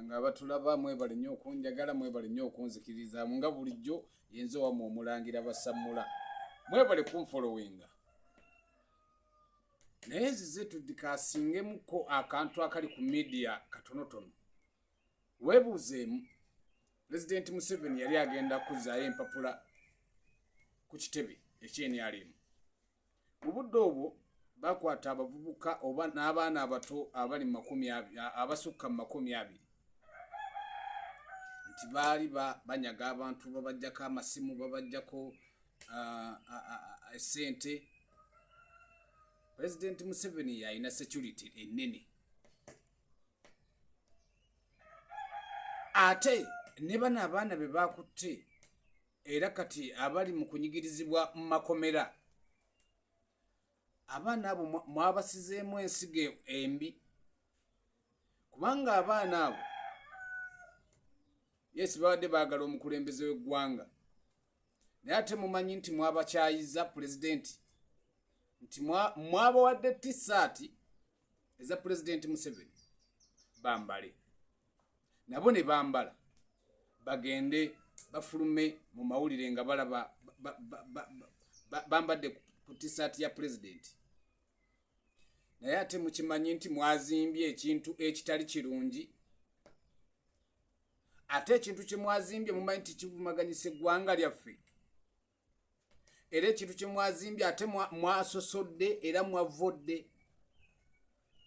nga abatulaba mwebale nnyo okunjagala mwebale nnyo okunzikirizamu nga bulijjo yenze wamu omulangira basammula mwebale kunfolowinga naye zize tudikasingemuko akantu akali ku midiya katonotono webuuzeemu pulezidenti museveni yali agenda kuzzaayo empapula ku kitebe ekyenalimu mu budde obwo bakwata abavubuka oba n'abaana abato abali makumi abasukka mu makumi abiri nti baali banyaga abantu babajjako amasimu babajjako esente pulezidenti museveni yalina security ennene ate ne bano abaana be bakutte era kati abali mu kunyigirizibwa mu makomera abaana abo mwabasizeemu ensigo embi kubanga abaana abo yesi babadde baagala omukulembeze w'eggwanga naye ate mumanyi nti mwabakyayiza pulezidenti nti mwabawadde tisaati eza pulezidenti museveni bambale nabo ne bambala bagende bafulume mu mawulire nga balaba bambadde ku tisaati ya pulezidenti naye ate mukimanyi nti mwazimbye ekintu ekitali kirungi ate ekintu kyemwazimbye mumanyi nti kivumaganyisa eggwanga lyaffe era ekintu kye mwazimbye ate mwasosodde era mwavodde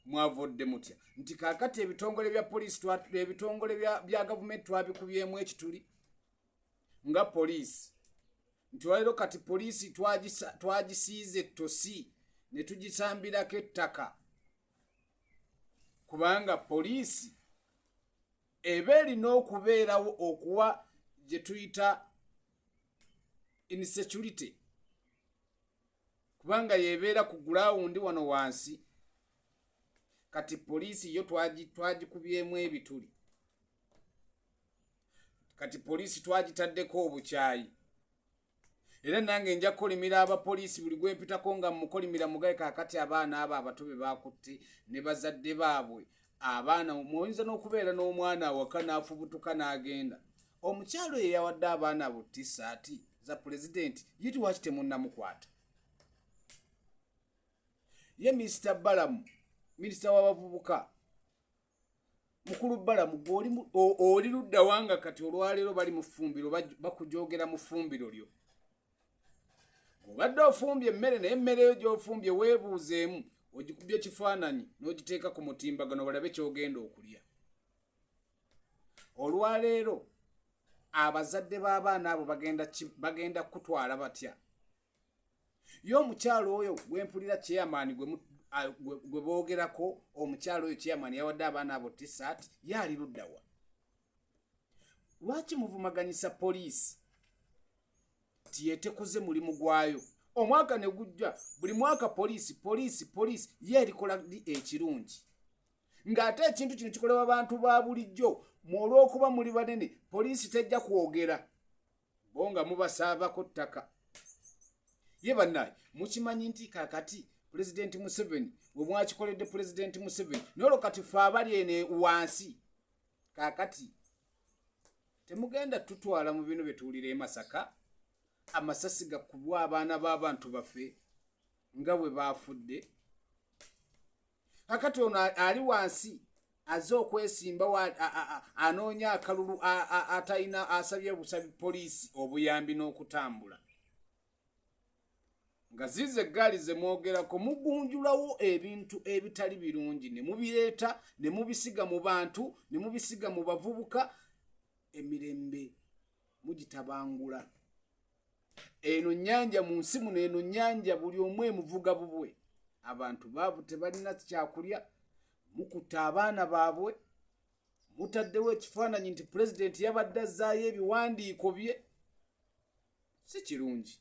mwavodde mutya nti kakati ebitongole bya poliisi ebitongole bya gavumenti twabikubyemu ekituli nga poliisi nti walero kati poliisi twagisiize ettosi ne tugisambirako ettaka kubanga poliisi eba erina okubeerawo okuwa gye tuyita insecurity kubanga yebeera ku gulawundi wano wansi kati poliisi yo twagikubyemu ebituli kati poliisi twagitaddeko obukyayi era nange nja kukolimira abapoliisi buli gwempitako nga mukolimira mugaye kakati abaana abo abato be bakutte ne bazadde baabwe abaana muyinza n'okubeera n'omwana awaka n'afubutuka n'agenda omukyalo ye yawadde abaana abo tisaati za pulezidenti ye tiwaki temunnamukwata ye minisita balamu minisita w'abavubuka mukulu balamu oli ludda wanga kati olwaleero bali mufumbiro bakujogera mufumbiro lyo obadde ofumbye emmere naye emmere yo gyofumbye weebuuzeemu ogikubya ekifaananyi n'ogiteeka ku mutimbagano balabe kyogenda okulya olwaleero abazadde b'abaana abo bagenda kukutwala batya ye omukyalo oyo gwempulira chairman gwe boogerako omukyalo oyo chairman yawadde abaana abo tisat ye ali luddawa lwaki muvumaganyisa poliisi ti yetekoze mulimu gwayo omwaka ne gujja buli mwaka poliisi poliisi poliisi ye erikola di ekirungi ng'ate ekintu kino kikolebwa bantu ba bulijjo mu olw'okuba muli banene poliisi tejja kwogera bo nga mubasaabako ttaka ye bannaye mukimanyi nti kakati pulezidenti museveni we mwakikoledde pulezidenti museveni nolwo kati fe abali ene wansi kakati temugenda tutwala mu bino byetuwulira emasaka amasasi gakubwa abaana b'abantu baffe nga bwe baafudde kakati ono ali wansi aze okwesimbawo anoonya akalulu atalina asabye busabi poliisi obuyambi n'okutambula nga zize eggaali ze mwogerako mugunjulawo ebintu ebitali birungi ne mubireeta ne mubisiga mu bantu ne mubisiga mu bavubuka emirembe mugitabangula eno nyanja mu nsi muno eno nyanja buli omu emuvuga bubwe abantu baavu tebalina kyakulya mukutta abaana baabwe mutaddewo ekifaananyi nti pulezidenti yabadde azzaayo ebiwandiiko bye si kirungi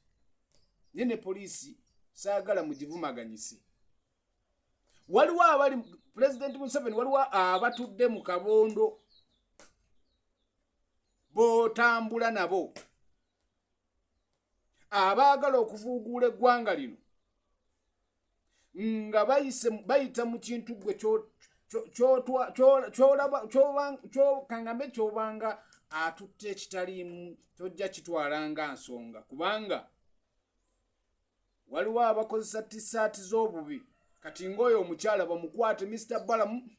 naye ne poliisi saagala mugivumaganyise waliwo abali pulezidenti museveni waliwo abatudde mu kabondo botambula nabo abaagala okuvuuguula eggwanga lino nga bayita mu kintu gwe kyokangambe kyobanga atutte ekitaliimu tojja kitwala nga nsonga kubanga waliwo abakozesa tisaati z'obubi kati ngaoyo omukyala bamukwate mister balamu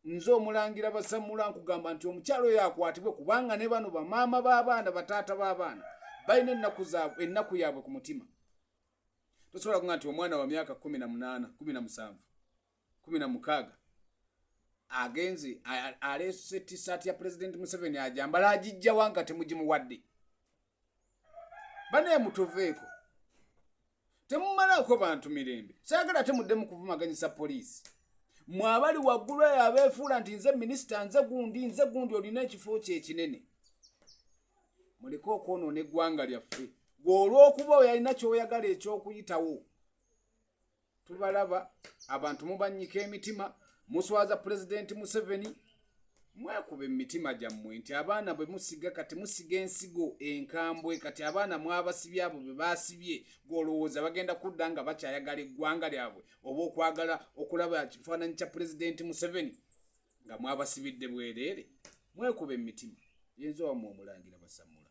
nze omulangira basamula nkugamba nti omukyala oyo akwatibwe kubanga ne bano bamaama b'abaana bataata b'abaana balina ennaku zaabwe ennaku yaabwe ku mutima tosobola kuga nti omwana wa myaka kumi na munaana kumi na musanvu kumi na mukaaga agenze aleese tisaati ya pulezidenti museveni ajambala agijjawa nga temugimuwadde banaye mutuveeko temumalaako bantu mirembe saagala ate muddemu kuvumaganyisa poliisi mwabali waggulu eyo abeefuula nti nze minisita nze gundi nze gundi olina ekifo kyo ekinene muleke okwonoona eggwanga lyaffe gwe olw'okuba oyalina kyoyagala eky'okuyitawo tubalaba abantu mubanyika emitima muswaza pulezidenti museveni mwekuba emitima gyammwe nti abaana bwe musiga kati musiga ensigo enkambwe kati abaana mwabasibye abo bwe basibye gwolowooza bagenda kudda nga bakyayagala eggwanga lyabwe oba okwagala okulaba kifaananyi kya pulezidenti museveni nga mwabasibidde bwereere mwekuba emitima yenza wamwe omulangira basamula